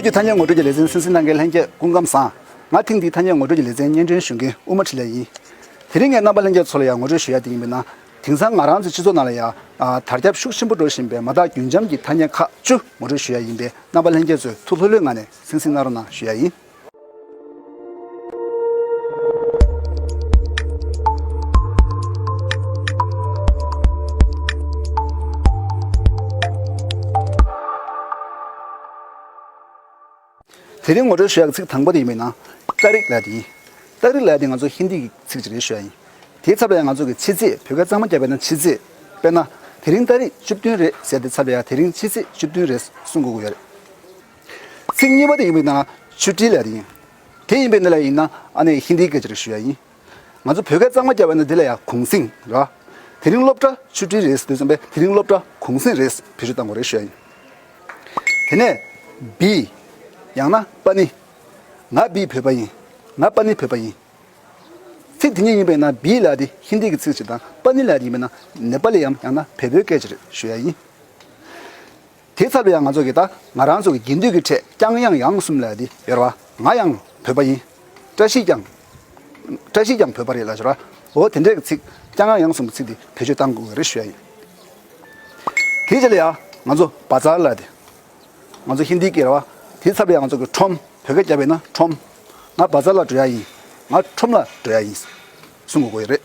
བོད་ཀྱི་ཐ་སྙད་ངོ་སྤྲོད་ཀྱི་ལེ་ཚན་སིན་སི་ནཱ་གྷལ་ལྷན་རྒྱས་སྐུ་མགམ་བཟང། ང་ཐེངས་འདིའི་ཐ་སྙད་ངོ་སྤྲོད་ཀྱི་ལེ་ཚན་སྙན་འགྲེལ་ཞུ་མཁན་དབུ་མ་ཁྲི་ལས་ཡིན། དེ་རིང་ངས་རྣམ་པ་ལྷན་རྒྱས་ཚོ་ལ་ཡང་ངོ་སྤྲོད་ཞུ་ཡ་དེ་ཡིན་པས་ན། དེང་སང་ང་རང་ཚོའི་སྤྱི་ཚོགས་ནང་ལ་ཡང། དར་ཁྱབ་ཤུགས་ཆེན་པོ་འགྲོ་བཞིན་པའི་མ་དག་རྒྱུན་འབྱམས་ཀྱི་ཐ་སྙད་ཁག་བཅུ་ངོ་སྤྲོད་ཞུ་ཡ་ཡིན་པས་རྣམ་པ་ལྷན་རྒྱས་ཚོས་ཐུགས་ལྷོད་ལྷོད་ངང་ནས་སིན་སི་ནཱ་རོ་ན་ཞུ་ཡ་ཡིན། དེ་རིང་ངོ་སྤྲོད་ཞུ་ཡག་ཚིག་དང་པོ་དེ་ཡིན་པའི་ནང་སྟག་རིག་ལྭ་དེ་ཡིན། སྟག་རིག་ལྭ་དེ་ང་ཚོ་ཧིན་དི་གི་ཚིག་ཅིག་རེད་ཞུ་ཡག་ཡིན། དེའི་ཚབ་ལ་ཡང་ང་ཚོ་གི་ཕྱི་ཚེས་བོད་སྐད་གཙང་མ་རྒྱབ་པའི་ནང་ཕྱི་ཚེས་དཔེར་ན་དེ་རིང་སྟག་རིག་བཅུ་བདུན་རེད་ཟེར་ཏེ་ཚབ་ལ་ཡང་དེ་རིང་ཕྱི་ཚེས་བཅུ་བདུན་རེད་གསུང་དགོས་ཀྱི་ཡོད་རེད། ཚིག་གཉིས་པ་དེ་ཡིན་པས་ན་ཆུ་བྲིས་ལས་རེད་ཡིན། དེ་ཡིན་པས་ན་ལས་ཡིན་ན་ཨ་ནེ་ཧིན་དིའི་སྐད་ཆ་རེ་ཞུ་ཡ་ཡིན། ང་ཚོ་བོད་སྐད་གཙང་མ་རྒྱབ་པ་ན་དེ་ལ་ཡང་གུང་སེང་ར། དེ་རིང་སློབ་གྲྭ་ཆུ་བྲིས་རེད་ཟེར་དུས་བསམ་པས་དེ་རིང་སློབ་གྲྭ་གུང་སེང་རེད་ཟེར་བེད་སྤྱོད་བཏང་གོ་རེ་ཞུ་ཡ་ཡིན། དེ་ནས་བི། ཡང་ན་པ་ནི། ང་བི་བོད་པ་ཡིན། ང་པ་ནི་བོད་པ་ཡིན། ཚིག་དེ་གཉིས་ཡིན་པས་ན་བི་ལ་དེ་ཧིན་དིའི་ཚིག་ཅིག་དང་པ་ནི་ལ་དེ་ཡིན་པས་ན་ནེ་པ་ལི་ཡའམ་ཡང་ན་བལ་པོའི་སྐད་ཅིག་རེད་ཞུ་ཡ་ཡིན། དེ་ཚར་བས་ཡང་ང་ཚོ་གིས་ད་ང་རང་ཚོ་གི་དགེ་འདུན་གྱི་ཁྲས་ཀྱང་ཡང་ཡང་གསུམ་ལས་འདི་ཡོད་རེད་བ། ང་ཡང་བོད་པ་ཡིན། བཀྲ་ཤིས་ཀྱང། བཀྲ་ཤིས་ཀྱང་བོད་པ་རེད་ལབ་ཤོར་བ། འོ་དེ་འདྲའི་གི་ཚིག་ཀྱང་ཡང་ཡང་གསུམ་གི་ཚིག་འདི་བེད་སྤྱོད་གཏང་དགོས་གི་རེད་ཞུ་ཡ་ཡིན། དེའི་རྗེས་ལ་ཡང་ང་ཚོ་བ་ཙར་ལ་དེ། ང་ཚོ་ཧིན་དྷི་གི་རེད་བ། དེ་ཚར་བས་ཡང་ང་ཚོ་གི་ཁྲོམ་བོད་སྐད་རྒྱབ་པས་ན་ཁྲོམ། ང་བ་ཙར་ལ་འགྲོ་ཡ་ཡིན། ང་ཁྲོམ་ལ་འགྲོ་ཡ་ཡིན། གསུང་དགོས་གི་རེད།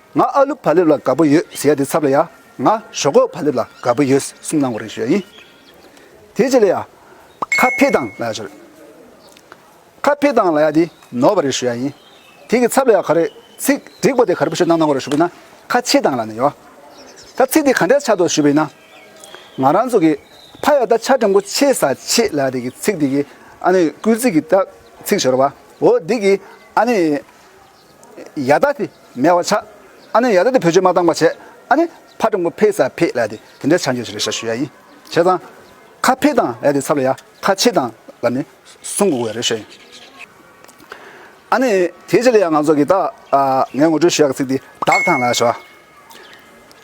ང་ཨ་ལུ་བྷ་ལེབ་ལ་དགའ་པོ་ཡོད་ཟེར་ཡ་དེ་ཚབ་ལ་ཡ་ང་ཞོག་ཁོག་བྷ་ལེབ་ལ་དགའ་པོ་ཡོད་གསུངས་གནང་བ་རེད་ཞུ་ཡ་ཡིན། དེ་རྗེས་ལ་ཡ་ཁ་འཕེ་དང་ལ་ཡ་ཞུ་རེད། ཁ་འཕེ་དང་ལ་ཡ་དེ་ནོར་བ་རེད་ཞུ་ཡ་ཡིན། དེ་གི་ཚབ་ལ་ཡ་ག་རེ་ཚིག་འགྲིག་པོ་དེ་ག་རེ་པོ་ཞུ་གནང་གནང་བ་རེད་ཞུ་བས་ན་ཁ་ཆེ་དང་ལ་ནི་ཡོད། ད་ཚིག་དེ་ག་འདྲ་ཆགས་འདུག་ཞུ་བས་ན། ང་རང་ཚོ་གི་ཕ་ཡ་ད་ཆ་དྲང་པོ་ཆེ་ས་ཆེ་ལ་ཡ་དེ་གི་ཚིག་དེ་གི་ཨ་ནི་སྐུལ་ཚིག་གི་ད་ཚིག་ཞོར་བ་འོ་དེ་གི་ཨ་ནི། ཡ་ད་དེ་མེད་བ་ཆགས་ཨ་ནི་ཡ་ད་དེ་བོད་ཆོས་མ་བཏང་བ་བྱས་ཨ་ནི་ཕ་ཀྲུང་གོ་ཕེ་ས་ཕེ་ལ་དེ་དེ་འདྲས་ཆགས་འགྱོད་ཆེ་རེད་ཤ་ཞུ་ཡ་ཡིན་བྱས་ཙང་ཁ་ཕེ་དང་ལ་དེ་ཚབ་ལ་ཡ་ཁ་ཆེ་དང་ལ་ནི་སུན་དགོ་གོ་ཡ་རེད་ཤ་ཡིན་ཨ་ནི་དེ་ཆེ་ལ་ཡ་ང་ཚོ་གི་ད་ངས་ངོ་སྤྲོད་ཞུ་ཡ་གི་ཚིག་དེ་བདག་ཐང་ལ་ཞོ་ཨ་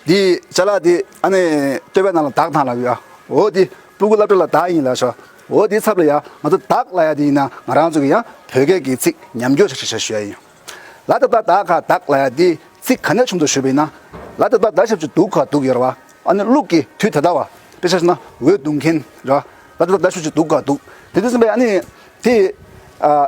དེ་བྱས་ལ་དེ་ཨ་ནི་ལྟོས་པའི་ནང་ལ་བདག་ཐང་ལ་གོ་ཡ་འོ་དེ། སྤུ་གུ་བླ་བྲེ་ལ་བདག་ཡིན་ལགས་ཤོག་འོ་དེའི་ཚབ་ལ་ཡང་ང་ཚོ་བདག་ལ་ཡ་དེ་ཡིན་ན་ང་རང་ཚོ་གི་ཡང་བོད་སྐད་ཀྱི་ཚིག་ཉམས་འགྱོ་ཞེས་ཞུ་ཡ་ཡིན་ལ་དེ་ལྟར་བདག་ག་བདག་ལ་ཡ་དེའི་ཚིག་ག་ནས་བྱུང་འདུག་ཞུ་བས་ན་ལ་དེ་ལྟར་བདག་ཞབས་ཀྱི་དུག་ག་དུག་ཡོར་བ་ཨ་ནི་ཀླུག་གི་དུས་དེ་ད་བ་དཔེ་ཆ་ན་འོད་བརྡུང་མཁན་ར་ལ་དེ་ལྟར་བདག་ཞབས་ཀྱི་དུག་ག་དུག་དེ་དུས་ཟིན་པས་ཨ་ནི་དེ་ཨ།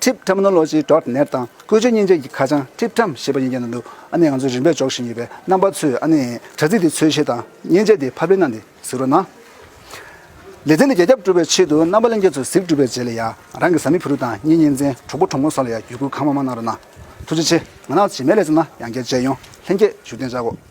Trip Terminology Dot Net དང་བཀོལ་སྤྱོད་སྙིང་བཅུད་ཀྱི་ཁ་བྱང Trip Term ཞེས་པ་ཡིན་རྒྱུ་ན་འདུག་ཨ་ནི་ང་ཚོས་རིམ་པས་འཇོག་བཞིན་ཡོད་པའི་རྣམ་པ་ཚོས་ཨ་ནི་དྲ་ཚིགས་འདི་འཚོལ་བཤེར་དང་མཉེན་ཆས་འདི་ཕབ་ལེན་གནང་སྟེ་གཟིགས་རོགས་གནང། ལེ་ཚན་འདི་རྒྱ་ཁྱབ་བསྒྲུབ་པའི་ཆེད་དུ་རྣམ་པ་གླེང་མཁན་ཚོས་གཟིགས་བསྒྲུབས་པའི་རྗེས་ལ་ཡང་ང་རང་གི་བཟའ་མི་བུ་རུ་དང་གཉེན་ཉེ་མཚན་གྲོགས་པོ་གྲོགས་མོ་སོགས་ལ་ཡང་བརྒྱུད་སྐུལ་གང་མང་མང་གནང་རོགས་གནང། ཐུགས་རྗེ་ཆེ། ང་ནག་ཆེ་མེད་ལས་བརྩམས་ན་ཡང་བསྐྱར་མཇལ་ཡོང་ལྷན་སྐྱེས་བཞུགས་གདན་བཅག་གོ།